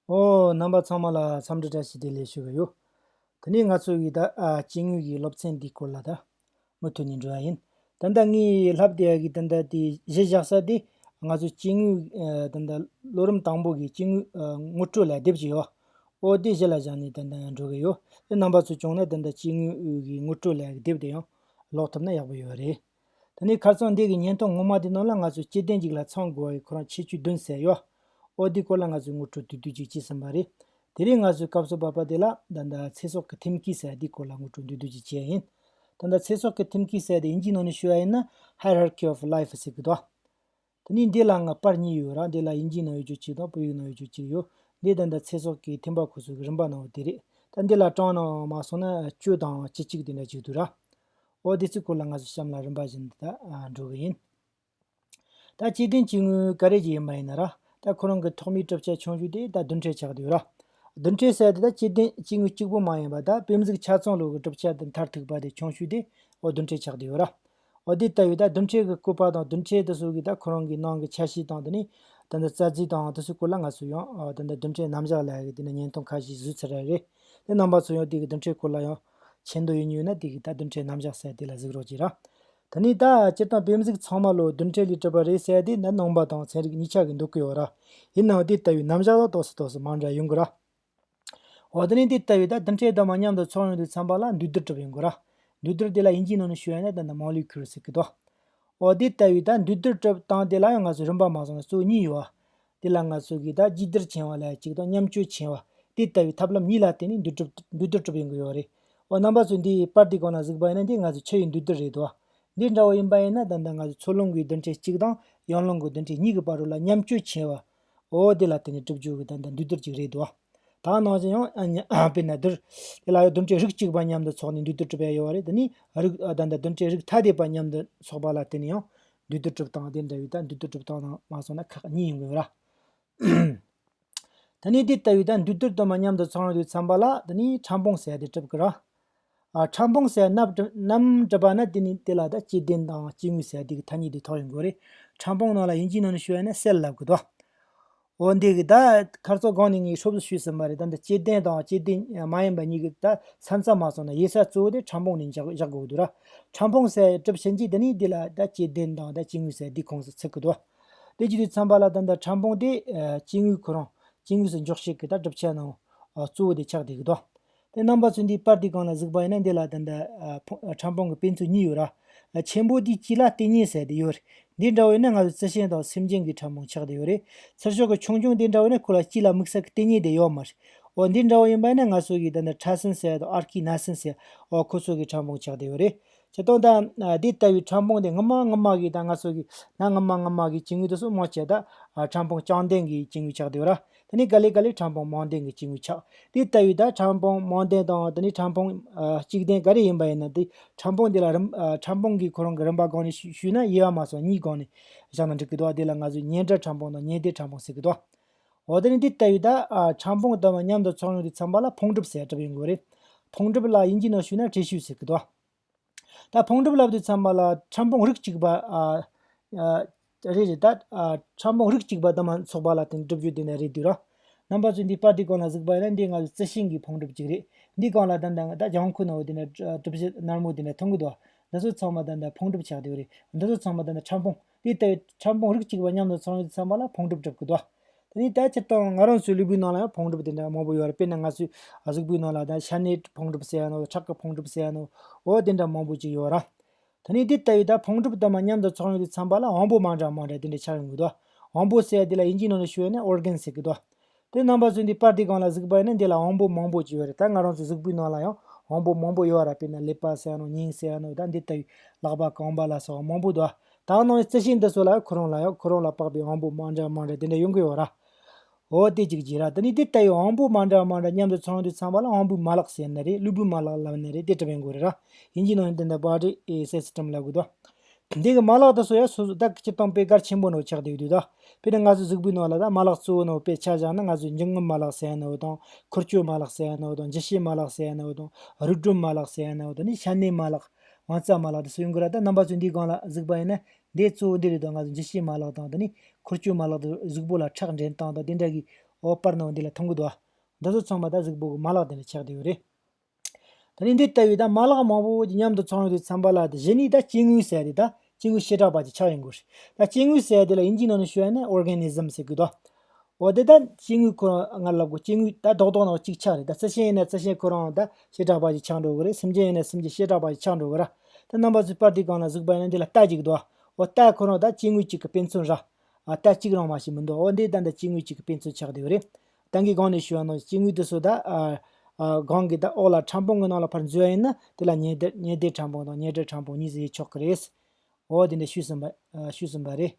ཨོ། རྣམ་པ་ཚང་མ་ལ་འཚམས་འདྲི་བཀྲ་ཤིས་བདེ་ལེགས་ཞུ་གི་ཡོད། དེ་ནས་ང་ཚོ་ཡི་ད་སྐྱེ་དངོས་ཀྱི་སློབ་ཚན་འདི་སྐོར་ལ་ད། མུ་མཐུད་ནས་འབྲི་བ་ཡིན། ད་ལྟ་ངའི་ལྷ་བདེ་ཡག་གི་ད་ལྟ་དེ་གཞི་བཞག་ས་དེ། ང་ཚོ་སྐྱེ་དངོས་ད་ལྟ་ལོ་རིམ་དང་པོ་གི་སྐྱེ་དངོས་ངོ་སྤྲོད་ལ་དེབ་ཅིག་ཡོད། ཨོ་དེ་གཞི་ལ་བཞག་ནས་ད་ད་འགྲོ་གི་ཡོད། རྣམ་པ་ཚོ་བྱུང་ན་ད་ད་སྐྱེ་དངོས་ཀྱི་ངོ་སྤྲོད་ལ་དེབ་དེ་ཡང་ཀློག་ཐུབ་ན་ཡག་པོ་ཡོད་རེད། ད་ནི་ཁར་ཚང་འདས་ཀྱི་བརྙན་ཐུང་ངོ་མ་དེ་ནང་ལ་ང་ཚོས་སྐྱེ་ལྡན་ཅིག་ལ་ཚང་དགོས་བ་ཡི་ཁོ་རང་ཆེ་བཅུ་བདུན་ཟེར་ཡོའོ་འདི་སྐོར་ལ་ང་ཚོས་ངོ་སྤྲོད་དུས་དུས་ཅིག་བྱེད་བསམ་པ་རེད། དེ་རིང་ང་ཚོས་སྐབས་སོ་པ་པ་དེ་ལ་ད་ད་ཚེ་སྲོག་གི་ཐེམ་སྐས་ཟེར་བ་འདི་སྐོར་ལ་ངོ་སྤྲོད་དུས་དུས་ཅིག་བྱས་ཡིན། ད་ད་ཚེ་སྲོག་གི་ཐེམ་སྐས་ཟེར་བ་དེ་དབྱིན་ཇིའི་ནང་ནས་ཤོད་བ་ཡིན་ན Hierarchy of Life ཟེར་གི་འདུག། དེ་ནས་འདི་ལའང་པར་གཉིས་ཡོད་ར་འདི་ལ་དབྱིན་ཇིའི་ནང་ཡོད་ཆོས་གཅིག་དང་བོད་ཡིག་ནང་ཡོད་ཆོས་གཅིག་ཡོད། འདི་དང་འདི་ཚེ་སྲོག་གིས་འཐེན་པ་ཁོ་ཚོ་གི་རིན་པ་ནང་བ་དེ་རེད། ད་འདི་ལ་བཀྲག་ནའང་མ་སོང་ན་གཅོད་དང་བྱེད་གཅིག་དེ་འདྲ་གཅིག་འདུག་ར། ཨོ་དེ་ཚོའི་སྐོར་ལ་ང་ཚོ་གཤམ་ལ་རིམ་པ་བཞིན་དེ་དག་འགྲོ་གི་ཡིན། ད་སྐྱེ་ལྡན་སྐྱེ་དངོས་ཀ་རེ་གྱི་མ་ཡིན་ན་ར། ད་ཁོ་རང་གི་ཐོག་མའི་གྲུབ་ཆ་ཆུང་ཤོས་དེ་ད་བདུན་ཁྲའི་ཆགས་དེ་ཡོད་ར། བདུན་ཁྲའི་གསལ་དེ་ད་སྐྱེ་ལྡན་སྐྱེ་དངོས་གཅིག་པོ་མ་ཡིན་པ་ད་བེམ་གཟུགས་ཆ་ཚང་ལོ་གི་གྲུབ་ཆ་དེ་མཐར་ཐུག་པ་དེ་ཆུང་ཤོས་དེ་ཨོ་བདུན་ཁྲའི་ཆགས་དེ་ཡོད་ར། འོ་དེ་ལྟ་བུའི་སྡུམ་ཆད་ཀྱི་སྐུད་པ་དང་སྡུམ་ཆད་དུ་སོགས་ཀྱི་ཁོ་རང་གི་ནང་གི་འཆར་གཞི་དང་དེ་ནས་རྩ་རྫི་དང་དེ་ཚོའི་སྐོར་ལ་ང་ཚོས་ཡང་སྡུམ་ཆད་རྣམ་གཞག་ལ་ཡི་གེ་དེ་ནས་བརྙན་ཐུང་ཁ་ཤས་བཟོས་ཚར་ར་རེད། དེ་རྣམ་པ་ཚོ་ཡང་དེ་གི་སྡུམ་ཆད་སྐོར་ལ་ཡང་བྱེད་འདོད་ཡོད་ཉོས་ན་དེ་གི་སྡུམ་ཆད་རྣམ་གཞག་གསལ་དེ་ལ་གཟིགས་རོགས་གྱིས་ར། དེ་ནས་ད་སྤྱིར་བཏང་བེམ་གཟིགས་ཚང་མ་ལོ་སྡུམ་ཆད་ལས་གྲུབ་པ་རེད་གསལ་དེ་ནི་ནང་པ་དང་ཚན་རིག་གཉིས་ཆ་གི་འདུག་གི་ཡོད་ར། ཡིན་ནའང་དེ་ལྟ་བུའི་རྣམ་གཞག་ལ་དོགས་སུ་དོགས་སུ་མང་འདྲ་ཡོང་གི་ར། འོ་ད་ནི་དེ་ལྟ་བུའི་དམ་ཆོས་དག་མ་མཉམ་དུ་ཚོགས་ཡོང་དུ་འཚམ་པ་ལ་འདུས་སྡོད་གྲུབ་པའི་མགོ་ར། འདུས་སྡོད་དེ་ལ་ཡིན་གྱི་ནང་ནས་ཞུ་ཡང་ན་དེ་འདྲ་མང་ལུས་ཁུར་ཟེར་གི་ཏོ། འོ་དེ་ལྟ་བུའི་འདུས་སྡོད་གྲུབ་སྟངས་དེ་ལ་ཡང་ང་ཚོས་རིམ་པ་མ་བཟུང་ན་གཙོ་བོ་གཉིས་ཡོད། དེ་ལ་ང་ཚོ་གིས་དང་གཅིག་སྡུར་བྱེད་པ་ལ་གཅིག་དང་མཉམ་སྤྱོད་བྱེད་པ། དེ་ལྟ་བུའི་ཐབས་ལམ་གཉིས་ལ་བརྟེན་ནས་འདུས་སྡོད་གྲུབ་པའི་མགོ་ཡོད་རེད། འོ་རྣམ་པ་ཚོས་འདིའི་པར་དེ་གང་ན་གཟིགས་པ་ཡིན་ན་དེ་ང་ཚོའི་ཕྱི་ཡི་འདུས་སྡོད་རེད་དོ། འདི་འདྲ་བོ་ཡིན་པ་ཡིན་ན་ད་ལྟ་ང་ཚོས་མཚོ་ལྷོ་མགོའི་བདུན་ཕྲན་གཅིག་དང་ཡང་ལྷོ་མགོ་བདུན་ཕྲན་གཉིས་ཀྱི་བར་རུ་ལ་མཉམ་སྤྱོད་བྱེད་པ། ཨོ་དེ་ལ་བརྟེན་ནས་གྲུབ་འབྱོར་གྱི་དོན་དང་འདུས་སྡོད་ཅིག་རེད་དོ། དག་སྣང་ཅན་ཡང། དཔེར་ན་འདིར། དེ་ལ་ཡང་སྡོམ་བྱའི་རིགས་གཅིག་པ་མཉམ་དུ་ཚོགས་ནས་འདུས་སྡོད་གྲུབ་པའི་ཡོད་པ་རེད་དེ་ནི། རིགས་བདག་དང་སྡོམ་བྱའི་རིགས་ཐ་དད་པ་མཉམ་དུ་ཚོགས་པ་ལ་བརྟེན་ནས་ཡང། འདུས་སྡོད་གྲུབ་སྟངས་དེ་འདྲ་ཡོད་ད་འདུས་སྡོད་གྲུབ་སྟངས་དང་མ་ཚོགས་ན་ཁག་གཉིས་ཡིན་དགོས་ལ། ད་ནི་དེ་ལྟ་བུའི་ད་འདུས་སྡོད་དུ་མ་མཉམ་དུ་ཚོགས་ཡོང་དུས་ཚངས་པ་ལ་དེ་ནི་ཕྲ་འབུངས་ཟད་དེ་གྲུབ་ཀྱི་ར། ཕྲ་འབུངས་སའི་རྣམ་སྒྲིབ་པ་ན་དེ་ནི་དེ་ལ་དང་སྐྱེ་ལྡན་དང་སྐྱེ་དངོས་སའི་དེ་གི་ཐ་སྙད་དེ་ཐོགས་ཡིན་དགོས་རེད། ཕྲ་འབུངས་ནང་ལ་ཡིན་གྱི་ནང་ནས་ཞུ་བ་ནི་གསལ་ལ་ལབ་དགོས་ཏོ། འོ་འདི་གི་ད་ཁར་ཚོགས་སྒང་ནས་ངས་ཧྲོབ་བཟོ་ཞུས་ཟིན་པ་རེད་ད་འདི་སྐྱེ་ལྡན་དང་སྐྱེ་ལྡན་མ་ཡིན་པ་གཉིས་ཀྱི་ད་ས་མཚམས་མ་སོང་ན་ཡེ་ས་གཙོ་བོ་དེ་ཕྲ་འབུངས་ནས་བཞག་དགོས་ཀྱི་འདུག་ར། ཕྲ་འབུངས་སའི་གྲུབ་ཆེན་གྱིས་དེ་ནི་དེ་ལ་ད་སྐྱེ་ལྡན་དང་ད་སྐྱེ་དངོས་སའི་དེ་ཁོངས་སུ་ཚུད་ཀྱི་འདུག་དེ་རྒྱུ་དེ་འཚམས་པ་ལ་ད་འདི་ཕྲ་འབུངས་དེ་སྐྱེ་དངོས་ཁོ་རང་སྐྱེ་དངོས་སུ་འཇོག་བྱེད་ཀྱི་ད་གྲུབ་ཆ་ནང་གཙོ་བོ་དེ་ཆགས་བསྡད་ཀྱི་འདུག་དེ་རྣམ་པ་ཚོས་འདིའི་པར་དེ་གང་ལ་གཟིགས་པ་ཡིན་ན་འདི་ལ་དེ་འདྲ་ཕྲང་པོང་གི་དཔེ་མཚོན་གཉིས་ཡོད་ར། ཆེན་པོ་དེའི་དཀྱིལ་ལ་ལྟེ་སྙེ་ཟེར་དེ་ཡོད་རེད། འདི་འདྲ་བོ་ཡིན་ན་ང་ཚོའི་རྩི་ཤིང་དང་སེམས་ཅན་གྱི་ཕྲང་པོང་ཆགས་དེ་ཡོད་རེད། ཚུར་ཤོག་གི་ཆུང་ཆུང་དེ་འདྲ་བོ་ཡིན་ན་ཁོ་ལ་དཀྱིལ་ལ་དམིགས་བསལ་གྱི་ལྟེ་སྙེ་དེ་ཡོད་མ་རེད། འོ་འདི་འདྲ་བོ་ཡིན་པ་ཡིན་ན་ང་ཚོ་གི་དེ་འདྲ་ཁྲ་སིན་ཟེར་དང་ཨར་ཀི་ན་སིན་ཟེར་འོ་ཁོ་ཚོ་གི་ཕྲང་པོང་ཆགས་དེ་ཡོད་རེད། ཇི་སྟོང་ད། འདི་ལྟ་བུའི་ཕྲང་པོང་དེ་ངུ་མ་ངུ་མ་གིས་དང་ང་ཚོ་གི་ན་ངུ་མ་ངུ་མ་གིས་ཇི་ངུས་དུ་སོང་མང་ཆེ་ད། ཕྲང་པོང་རྐྱང་ལྡན་གྱི་ཇི་ངུས་ཆགས་དེ་ཡོད་ར། དེ་ནས་ཀཱ་ལི་ཀཱ་ལི་ཕྲང་བོང་མོང་ལྡན་གྱི་སྐྱེས་བུ་ཆགས། དེ་ལྟ་བུའི་དག་ཕྲང་བོང་མོང་ལྡན་དང་དེ་ནི་ཕྲང་བོང། གཅིག་ལྡན་ག་རེ་ཡིན་པ་ཡིན་ན་དེ་ཕྲང་བོང་དེ་ལ་རིམ། ཕྲང་བོང་གི་ཁོ་རང་གི་རིམ་པ་སྒང་ནས་ཞུས་ན་དབྱེ་བ་མ་སོགས་གཉིས་སྒང་ནས་བཞག་ན་འགྲིག་གི་འདུག་དེ་ལ་ང་ཚོས་ཉེ་འབྲེལ་ཕྲང་བོང་དང་ཉེ་སྡེ་ཕྲང་བོང་ཟེར་གི་འདུག། འོ་དེ་ནི་དེ་ལྟ་བུའི་དག་ཕྲང་བོང་ལྟ་བུ་མཉམ་དུ་ཚོགས་ཡོང་དུས་ཚངས་པ་ལ་བོང་གྲུབ་ཟེར་གྲབས་ཡོང་གི་རེད། བོང་གྲུབ་ལ་དབྱིན་ཇིའི་ནང་ཞུས་ན་ཁྲེ་ཤུས་ཟེར་གི་འདུག། ད་ཕུང་གྲུབ་ལབ་དུས་ཚང་མ་ལ་ཁྲམ་ཕུང་རིགས་གཅིག་པ་རེད་རེད་ད། ཁྲམ་ཕུང་རིགས་གཅིག་པ་དང་མ་ཚོགས་པ་ལ་དེ་འདྲ་གྲུབ་རྒྱུ་དེ་འདྲ་རེད་དུས་ར། རྣམ་པ་ཚོས་འདི་པར་དེ་གང་ལ་གཟིགས་པ་ཡིན་ན་འདི་ང་ཚོ་རྩི་ཤིང་གི་ཕུང་གྲུབ་ཅིག་རེད། འདི་གང་ལ་ད་འདང་ད་ལྗང་ཁུ་ནང་བོ་དེ་འདྲ་གྲུབ་བྱེད་ནར་མོ་དེ་འདྲ་མཐོང་གི་འདུག་ཨ། འདི་ཚོ་ཚང་མ་ད་འདྲ་ཕུང་གྲུབ་ཆགས་དུས་རེད། འདི་ཚོ་ཚང་མ་ད་འདྲ་ཁྲམ་ཕུང། དེ་ལྟ་བུའི་ཕྲ་ཕུང་རིགས་གཅིག་པ་མཉམ་དུ་ཚང་ཡོད་དུ་བསམ་པ་ལ་ཕུང་གྲུབ་བསྒྲུབ་དགོས་ཏོ། དེ་ནི་དེའི་ཕྱིར་དང་ང་རང་ཚོའི་ལུས་པོའི་ནང་ལ་ཡང་ཕུང་གྲུབ་དེ་འདྲ་མང་པོ་ཡོད་རེད་དཔེར་ན་ང་ཚོའི་གཟུགས་པོའི་ནང་ལ་ད་ཤ་ནའི་ཕུང་གྲུབ་ཟེར་ཡ་ནའོ་ཁྲག་གི་ཕུང་གྲུབ་ཟེར་ཡ་ནའོ་དེ་འདྲ་མང་པོ་ཅིག་ཡོད་ར། དེ་ནི་དེ་ལྟ་བུའི་ད་ཕུང་གྲུབ་དུ་མ་མཉམ་དུ་ཚང་ཡོད་དུ་བསམ་པ་ལ་དབང་པོ་མང་དྲགས་མང་དྲགས་དེ་འདྲ་ཆགས་ཡོང་གི་དོ། དབང་པོ་ཟེར་ཡ་དེ་ལ་དབྱིན་ཇིའི་ནང་ལ་ཤོད་ན Organ ཟེར་གི་དོ། དེ་རྣམ་པ་ཚོས་འདི་པར་འདི་གང་ལ་གཟིགས་པ་ཡིན་ན་འདི་ལ་དབང་པོ་མང་པོ་ཅི་ཡོད་རེད་ད་ང་རང་ཚོའི་གཟིགས་པོའི་ནང་ལ་ཡང་དབང་པོ་མང་པོ་ཡོད་ར་པས་ན་ལེགས་པ་བསལ་ནོ་སྙིང་བསལ་ནོ་ད་འདི་ལྟ་བུའི་ལག་པ་གང་པ་ལ་སོགས་དབང་པོ་དུ་དག་སྣང་བའི་རྩི་ཤིང་འདི་ཚོ་ལ་ཁོ་རང་ལ་ཡང་ཁོ་རང་ལ་དཔག་པའི་དབང་པོ་མང་འདྲ་མང་འདྲ་དེ་འདྲ་ཡོང་གི་ཡོད་ར། འོ་དེ་ཅིག་བྱས་ར་ད་ནི་འདི་ལྟ་བུའི་དབང་པོ་མང་འདྲ་མང་འདྲ་མཉམ་དུ་ཚང་དུས་ཚང་པ་ལ་དབང་པོའི་མ་ལག་ཟེར་ནི་རེད་གློ་བུའི་མ་ལག་ལབ་ནི་རེད་དེ་གྲུབ་པའི་མགོ་རེད་ར། ཡིན་གྱི་ནང་བཞིན་དེ་འདྲ་པར་རེད་ཨེ་གསལ་བྱེད་ཀྲམ་ལ་དགོས་དོ། འདི་གི་མ་ལག་དུ་སོ་ཡ་སོ་སོ་དག་གི་ཆུ་དང་པའི་གར་ཆེན་པོ་ནོ་ཆགས་དེ་ཡོད་དུས་དག་པའི་ནང་ང་ཚོའི་གཟུགས་པོའི་ནང་ལ་དག་མ་ལག་གཙོ་བོ་ནོ་པའི་ཆ་བཞག་ན་ང་ཚོའི་འབྱུང་ཁམས་མ་ལག་ཟེར་ཡ་ནོ་དང་འཁོར་སྐྱོད་མ་ལག་ཟེར་ཡ་ནོ་དང་འཇིགས་བྱེད་མ་ལག་ཟེར་ཡ་ནོ་དང་རུས་སྒྲོམ་མ་ལག་ཟེར་ཡ་ནོ་དང་ནི་ཤ་གནད་མ་ལག་བང་རྩ་མ་ལག་དུ་སོ་ཡོང་གི་ར་དག་རྣམ་པ་ཚོའི་འདིའི་སྒང་ལ་གཟུགས་པ་ཡིན་ན་འདི་གཙོ་བོ་འདི་རེད་དང་ང་ཚོའི་འཇིགས་བྱེད་མ་ལག་དང་དེ་ནི་འཁོར་སྐྱོད་མ་ལག་དུ་གཟུགས་པོ་ལ་ཁྲག་འདྲེན་སྟངས་དང་དེ་འདྲ་གི་འོག་པར་ནོ་འདི་ལ་ཐུམ་གུ་དོ། འདི་ཚོ་ཚང་མ་དག་གཟུགས་པོ་གི་མ་ལག་དེ་ནས་ཆགས་དེ་ཡོད་རེད། ད་ནི་འདི་ལྟ་བུའི་མ་ལག་མང་པོ་ཞིག་མཉམ་དུ་ཚང་བའི་དུས་འཚམ་པ་ལ་གཞི་ནི་སྐྱེ་དངོས་ཟེར་ཏེ། སྐྱེ་དངོས་བྱེ་བྲག་པ་ཅིག་ཆགས་ཡོང་དགོས། སྐྱེ་དངོས་ཟེར་དེ་ལ་དབྱིན་ཇིའི་ནང་ནས་ཤོད་ཡ་ན Organism ཟེར་དགོས། འོ་དེ་ལྟར་སྐྱེ་དངོས་ཁོ་རང་སྔར་ལབ་དགོས་སྐྱེ་དངོས་ད་རྡོག་རྡོག་ནང་གཅིག་ཆགས་རེད་རྩི་ཤིང་ཡིན་ན་རྩི་ཤིང་ཁོ་རང་བྱེ་བྲག་པ་ཅིག་ཆགས་འགྲོ་གི་རེད་སེམས་ཅན་ཡིན་ན་སེམས་ཅན་བྱེ་བྲག་པ་ཅིག་ཆགས་འགྲོ་གི་ར། ད་རྣམ་པ་ཚོའི་དཔར་དུས་གང་ལ་གཟིགས་པ་ཡིན་ན་འདི་ལ་རྟགས་ཅིག་འདུག་ཨ། འོ་རྟགས་ཁོ་རང་ད་སྐྱེ་དངོས་གཅིག་གི་དཔེ་མཚོན་ར། རྟགས་གཅིག་རང་མ་ཞིག་མི་འདུག་འོ་འདི་ལྟར་ད་སྐྱེ་དངོས་གཅིག་གི་དཔེ་མཚོན་ཆགས་བསྡད་པ་རེད། ཏང་གི་སྒང་ནས་ཞུ་བ་ནང་སྐྱེ་དངོས་དུ་སོ་དག་སྒང་གི་དག་འོག་ལ་ཕྲ་འཕོང་གི་ནང་ལ་ཕར་འཛུལ་བ་ཡིན་ན་དེ་ལ་ཉེ་བརྡལ་ཕྲ་འཕོང་དང་ཉེ་བྲལ་ཕྲ་འཕོང་གཉིས་སུ་དབྱེ་ཆོག་གི་རེད། འོ་དེ་འདྲ་ཞུས་ཟིན་པ་རེད།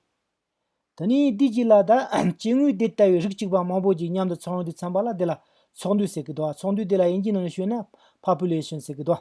དེ་ནས་དུས་གཅིག་ལ་དག་སྐྱེ་དངོས་དེ་ལྟ་བུའི་རིགས་གཅིག་པ་མང་པོ་ཞིག་མཉམ་དུ་ཚོགས་འདུ་འཚམས་པ་ལ་དེ་ལ་ཚོགས་འདུ་ཟེར་གི་འདུག་ཚོགས་འདུ་དེ་ལ་དབྱིན་ཇིའི་ནང་ནས་ཞུས་ན Population ཟེར་གི་འདུག།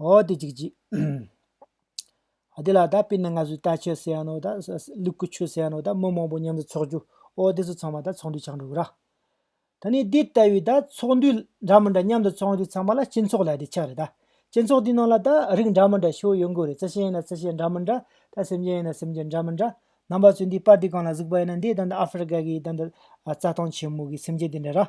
ཨོ་དེ་ཅིག་ཅིག། ཨོ་དེ་ལ་ད་པི་ན་ང་ཚོས་ད་ཆོས་སེ་ཡ་ནོ་ད་ལུག་གུ་ཆོས་སེ་ཡ་ནོ་ད་མི་མང་པོ་མཉམ་དུ་འཚོགས་རྒྱུ་ཨོ་དེ་ཚོ་ཚང་མ་ད་ཚོགས་འདུས་ཆགས་འགྲོ་གི་ར། ད་ནི་དེ་ལྟ་བུའི་ད་ཚོགས་འདུས་འདྲ་མི་འདྲ་མཉམ་དུ་ཚོགས་འདུས་ཚང་མ་ལ་སྤྱི་ཚོགས་ལ་དེ་ཆགས་རེད་ད། སྤྱི་ཚོགས་དེའི་ནང་ལ་ད་རིགས་འདྲ་མི་འདྲ་ཞོ་ཡོད་མགོ་རེད་རྩི་ཤིང་ཡིན་ན་རྩི་ཤིང་འདྲ་མི་འདྲ་ད་སེམས་ཅན་ཡིན་ན་སེམས་ཅན་འདྲ་མི་འདྲ་རྣམ་པ་ཚོས་འདིའི་པར་དེ་གང་ལ་གཟིགས་པ་ཡིན་ན་འདི་ད་ནི་ཨ་ཧྥེ་རི་ཀ་གི་ད་ནི་རྩྭ་ཐང་ཆེན་མོ་གི་སེམས་ཅན་དེ་འདྲ་ར།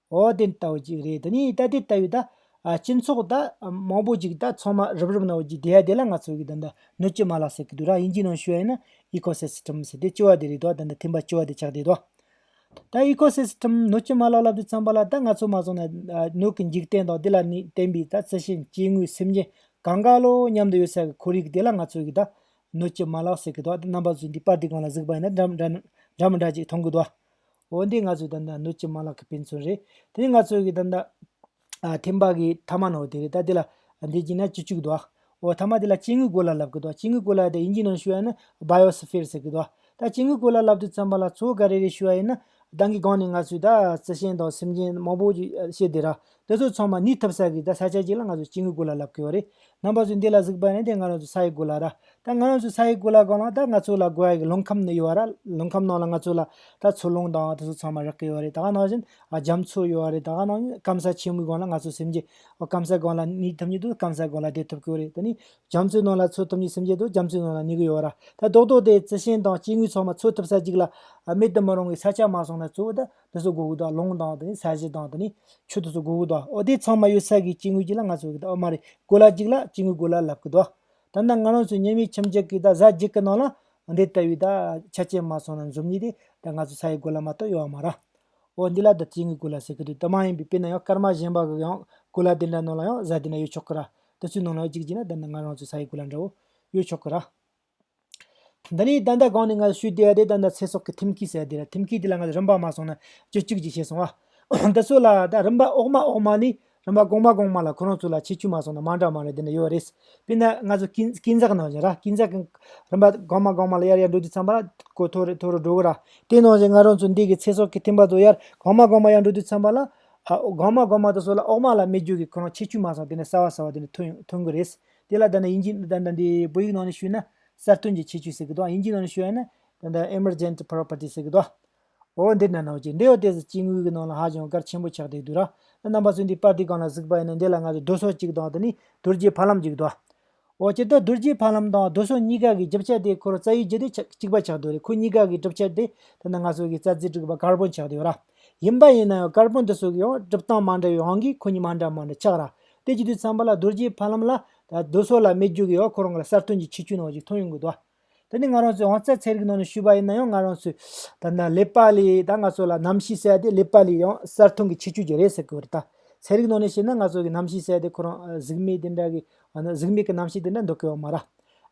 འོ་དེ་ལྟ་བུ་ཅིག་རེད་དེ་ནས་ད་དེ་ལྟ་བུའི་ད་སྤྱི་ཚོགས་ད་མང་པོ་ཅིག་ད་ཚང་མ་རུབ་རུབ་ན་བོ་ཅིག་དེ་ཡ་དེ་ལ་ང་ཚོ་གི་ད་ནི་ནུ་ཅི་མ་ལ་ཟེར་གི་འདུག་ར་དབྱིན་ཇིའི་ནང་ཞུ་ཡ་ཡིན་ན Ecosystem ཟེར་དེ་ཅི་བ་དེ་རེད་དོ་ད་ནི་ཐིམ་པ་ཅི་བ་དེ་ཆགས་དེ་དོ། ད Ecosystem ནུ་ཅི་མ་ལ་ལབ་དེ་ཚང་པ་ལ་ད་ང་ཚོ་མ་བཟུང་ན་ནུ་གི་འཇིག་རྟེན་དང་དེ་ལ་ནི་བརྟེན་པའི་ད་རྩི་ཤིང་སྐྱེ་དངོས་སེམས་ཅན་གང་ག་ལོ་མཉམ་དུ་ཡོད་ས་གི་ཁོར་ཡུག་དེ་ལ་ང་ཚོ་གི་ད་ནུ་ཅི་མ་ལ་ཟེར་གི་འདུག་ད་རྣམ་པ་ཚོས་འདི་པར་དེ་གང་ལ་གཟིགས་པ་ཡིན་ན་འདྲ་མི་འདྲ་ཅིག་མཐོང་གི་འདུག། འོ་འདི་ང་ཚོའི་ད་ནི་སྣོད་ཀྱི་མ་ལག་གི་དཔེ་མཚོན་རེད། དེ་ནི་ང་ཚོའི་གི་ད་ནི། ཐེམ་པ་གི་མཐའ་མ་ནོ་དེ་རེད་ད་དེ་ལ། འདི་གྱི་ན་ཅི་བཅུག་དོ། འོ་མཐའ་མ་དེ་ལ་སྐྱེ་དངོས་གོ་ལ་ལབ་གི་དོ་སྐྱེ་དངོས་གོ་ལ་དེ་ཡིན་གྱི་ནང་ཞུ་བ་ཡིན་ན Biosphere ཟེར་གི་དོ། ད་སྐྱེ་དངོས་གོ་ལ་ལབ་དུས་ཚན་པ་ལ་མཚོ་ག་རེ་རེ་ཞུ་བ་ཡིན་ན། གདང་གི་སྒང་ནས་ང་ཚོའི་ད་རྩི་ཤིང་དང་སེམས་ཅན་མང་པོ་ཞིག་ཤེས་དེ་ར། དེ་ཚོ་ཚང་མ་ནི་ཐབ་ས་གིས་ད་ས་ཆ་གཅིག་ལ་ང་ཚོ་སྐྱིད་ངུ་གུ་ལ་ལབ་གི་ཡོད་རེད་ནང་པ་ཚོས་འདི་ལ་གཟིགས་པ་ནི་དེ་ང་རང་ཚོ་ས་ཡི་གུ་ལ་ར་ད་ང་རང་ཚོ་ས་ཡི་གུ་ལ་གང་ལ་ད་ང་ཚོ་ལ་གུ་ཡ་གི་ལུང་ཁམས་ནི་ཡོད་ར་ལུང་ཁམས་ནང་ལ་ང་ཚོ་ལ་ད་མཚོ་ལུང་དང་དེ་ཚོ་ཚང་མ་རག་གི་ཡོད་རེད་ད་ག་ནང་བཞིན་རྒྱ་མཚོ་ཡོད་རེད་ད་ག་ནང་སྐམ་ས་ཆེན་མོའི་སྒང་ལ་ང་ཚོ་སེམས་རྒྱས་སྐམ་ས་སྒང་ལ་ནི་ཐུབ་ཉིད་དུ་སྐམ་ས་སྒང་ལ་བསྡད་ཐུབ་གི་ཡོད་རེད་ད་ནི་རྒྱ་མཚོའི་ནང་ལ་འཚོ་ཐུབ་ཉིད་སེམས་རྒྱས་དུ་རྒྱ་མཚོའི་ནང་ལ་ནི་གི་ཡོད་ར་ད་རྡོག་རྡོག་དེ་རྩི་ཤིང་དང་སྐྱིད་ངུས་ཚང་མ་འཚོ་ཐུབ་ས་གཅིག་ལ་མེད་དུ་མི་རུང་བའི་ས་ཆ་མ་སོང་ན་གཙོ་བོ་ད་དེ་ཚོ་དགུ་དགུ་དང་ལོང་དང་དེ་ནི་ས་གཞི་དང་དེ་ནི་ཆུ་དེ་ཚོ་དགུ་དགུ་དང་ཨོ་དེ་ཚང་མ་ཡོད་ས་གིས་སྐྱེ་དངོས་ཀྱི་ལ་ང་ཚོ་གི་དང་ཨོ་མ་རེད་གོ་ལ་གཅིག་ལ་སྐྱེ་དངོས་གོ་ལ་ལབ་གི་དང་ད་ནི་ང་རང་ཚོའི་ཉེ་མི་ཁྱིམ་གཅིག་གི་དང་གཟའ་གཅིག་གི་ནང་ལ་འདི་ལྟ་བུའི་དང་ཆ་རྐྱེན་མ་སོང་ན་འཛོམས་ཉིད་དེ་དང་ང་ཚོ་ས་ཡི་གོ་ལ་མ་གཏོགས་ཡོད་མ་ར། ཨོ་འདི་ལ་དང་སྐྱེ་དངོས་གོ་ལ་ཟེར་གི་འདུག་དེ་མ་ཡིན་པའི་དཔེར་ན་ཡང་སྐར་མ་གཞན་པ་གི་ཡང་གོ་ལ་དེ་འདྲ་ནང་ལ་ཡང་གཟའ་དེ་འདྲ་ཡོད་ཆོག་གི་ར་དེ་ཚོའི་ནང་ལ་ཡང་གཅིག་གཅིག་ན་དེ་ནི་ང་རང་ཚོའི་ས་ཡི་གོ་ལ་འདྲ་བོ་ཡོད་ཆོག་གི་ར། འདི་ནས་ད་ལྟ་གང་ནས་ང་ལ་ཞུས་དེ་ད་ལྟ་ཚེ་སྲོག་གི་ཐེམ་སྐས་ཟེར་དེ་རེད་ཐེམ་སྐས་དེ་ལ་ང་ཚོ་རིམ་པ་མ་སོང་ན་རྒྱུ་གཅིག་གྱིས་ཤེས་སོང་ཨ། འདི་ཚོ་ལ་ད་རིམ་པ་འོག་མ་འོག་མ་ནས་རིམ་པ་གོང་མ་གོང་མ་ལ་ཁོ་རང་ཚོ་ལ་ཆེད་སྤྱོད་མ་སོང་ན་མ་འདྲ་མ་རེད་དེ་འདྲ་ཡོད་རེད། དཔེར་ན་ང་ཚོ་སྐྱིན་སྐྱིན་ཚག་ནང་བཞིན་ར་སྐྱིན་ཚག་གི་རིམ་པ་གོང་མ་གོང་མ་ལ་ཡར་ཡར་འགྲོ་དུས་ཚངས་པ་གོ་མཐོ་རུ་མཐོ་རུ་འགྲོ་གི་ར་དེ་ནང་བཞིན་ང་རང་ཚོ་འདི་གི་ཚེ་སྲོག་གི་ཐེམ་པ་ཚོ་ཡར་གོང་མ་གོང་མ་ཡར་འགྲོ་དུས་ཚངས་པ་ལ། གོང་མ་གོང་མ་དེ་ཚོ་ལ་འོག་མ་ལ་མི་རྒྱུག་གི་ཁོ་རང་ཆེད་སྤྱོད་མ་སོང་དེ་ནས་གསར་བ་གསར་བ་དེ་འདྲ་ཐོན་ཐོན་གི་རེད། དེ་ལ་ད་ནི་དབྱིན་ཇིའི་ནང་ནས་བོད་ཡིག་ནང་ནས་ཞུས་ན་གསར་ཐོན་གྱི་ཁྱད་ཆོས་ཟེར་གི་འདུག་དབྱིན་ཇིའི་ནང་ནས་ཞུས་ན Emergent Property ཟེར་གི་འདུག་འོ་འདི་ནང་ན་འོ་ཅིག་འདི་འོ་དེ་ཟེར་དཔྱིད་དངུལ་གྱི་ནང་ལ་ཧ་ཅང་དཀར་ཆེན་པོ་ཆགས་བསྡད་འདུག་ར་རྣམ་པ་ཚོས་འདི་དཔར་དུས་གང་ལ་གཟིགས་པ་ཡིན་ན་འདི་ལ་ང་ཚོས་རྡོ་སོལ་གཅིག་དང་དེ་ནི་དུར་རྒྱལ་ཕ་ལམ་གཅིག་འདུག་འོ་ཅེ་ད་དུར་རྒྱལ་ཕ་ལམ་དང་རྡོ་སོལ་གཉིས་ཀ་གི་རྒྱུ་ཆ་དེ་ཁོ་རང་རྩ་ཡིག་བརྒྱུད་དེ་གཅིག་པ་ཆགས་འདུག་རེད་ཁོ་གཉིས་ཀ་གི་གྲུབ་ཆ་དེ་ད་ནི་ང་ཚོ་གི་རྩ་རྩིས་དྲུག་པ Carbon ཆགས་འདུག་ར་ཡིན་པ་ཡིན་ན་ཡང Carbon དེ་ཚོ་གི་ཡང་གྲུབ་སྟངས་མ་འདྲ་བའི་དབང་གིས་ཁོ་གཉིས་མ་འདྲ་མ་འདྲ་ཆགས་ར་དེ་ཅི་དུས་ཚངས་པ་ལ་རྡོ་རྗེའི་ཕ་ལམ་ལ། རྡོ་སོལ་ལ་མེ་རྒྱུག་གི་ཡོ་ཁོ་རང་གི་ལ་གསར་ཐོན་གྱི་ཆིག་ཆུ་ནང་ཞིག་འཐུང་ཡོང་གི་འདུག་ཨ། དེ་ནི་ང་རང་ཚོའི་ཨང་རྩེད་ཚེ་རིག་ནང་ནས་ཞུས་པ་ཡིན་ན་ཡང་ང་རང་ཚོས། ད་ལེ་པ་ལི་ད་ང་ཚོ་ལ་གནམ་གཤིས་གསལ་ཏེ་ལེ་པ་ལི་ཡང་གསར་ཐོན་གྱི་ཆིག་ཆུ་གྱི་རེད་ཟེར་གི་ཡོད་རེད་ད། ཚེ་རིག་ནང་ནས་བཤད་ན་ང་ཚོ་གི་གནམ་གཤིས་གསལ་ཏེ་ཁོ་རང་གཟུགས་མེད་དེ་འདྲ་གི། གཟུགས་མེད་ཀྱི་གནམ་གཤིས་དེ་འདྲ་འདུག་གི་ཡོད་མ་ར།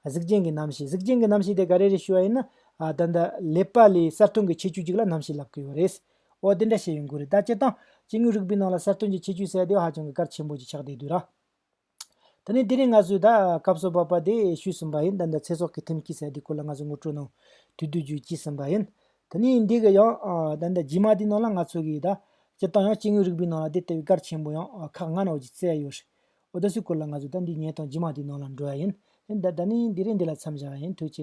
གཟུགས་ཅན་གྱི་གནམ་གཤིས་གཟུགས་ཅན་གྱི་གནམ་གཤིས་དེ་ག་རེ་རེད་ཞུས་པ་ཡིན་ན། ད། ལེ་པ་ལི་གསར་ཐོན་གྱི་ཆིག་ཆུ་ཅིག་ལ་གནམ་གཤིས་ལབ་ཀྱི་ཡོད་རེད། འོ་དེ་འདྲ་བྱས་ཡོང་གི་རེད་ད་སྤྱིར་བཏང་སྐྱེ་དངོས་རིག་པའི་ནང་ལ་གསར་ཐོན་གྱི་ཁྱད་ཆོས་གསལ་དེ་ཧ་ཅང་གི་གལ་ཆེན་པོ་ཞིག་ཆགས་བསྡད་དུས་ར། ད་ནི་དེ་རིང་ང་ཚོས་ད་སྐབས་སུ་བབ་པ་དེ་ཤོད་ཟིན་པ་ཡིན་ད་ལྟ་ཚེ་སྲོག་གི་ཐེམ་སྐས་གསལ་དེ་སྐོར་ལ་ང་ཚོས་ངོ་སྤྲོད་གནང་དུས་དུས་རྒྱུན་སྐྱེས་ཟིན་པ་ཡིན། ད་ནི་འདི་གི་ཡང་ད་ལྟ་རྗེས་མ་དེའི་ནང་ལ་ང་ཚོ་གིས་ད་སྤྱིར་བཏང་ཡང་སྐྱེ་དངོས་རིག་པའི་ནང་ལ་དེ་ལྟ་བུའི་གལ་ཆེན་པོ་ཡང་ཁག་ལྔ་ནང་བཞིན་གསལ་ཡོད་རེད། འོ་ད་སུའི་སྐོར་ལ་ང་ཚོས་ད་འདིའི་ཉལ་སྟངས་རྗེས་མ་དེའི་ནང་ལ་འགྲོ་ཡ་ཡིན། ད་ནི་དེ་རིང་འདི་ལ་མཚམས་བཞག་ཡ་ཡིན་དུས་ཆེ།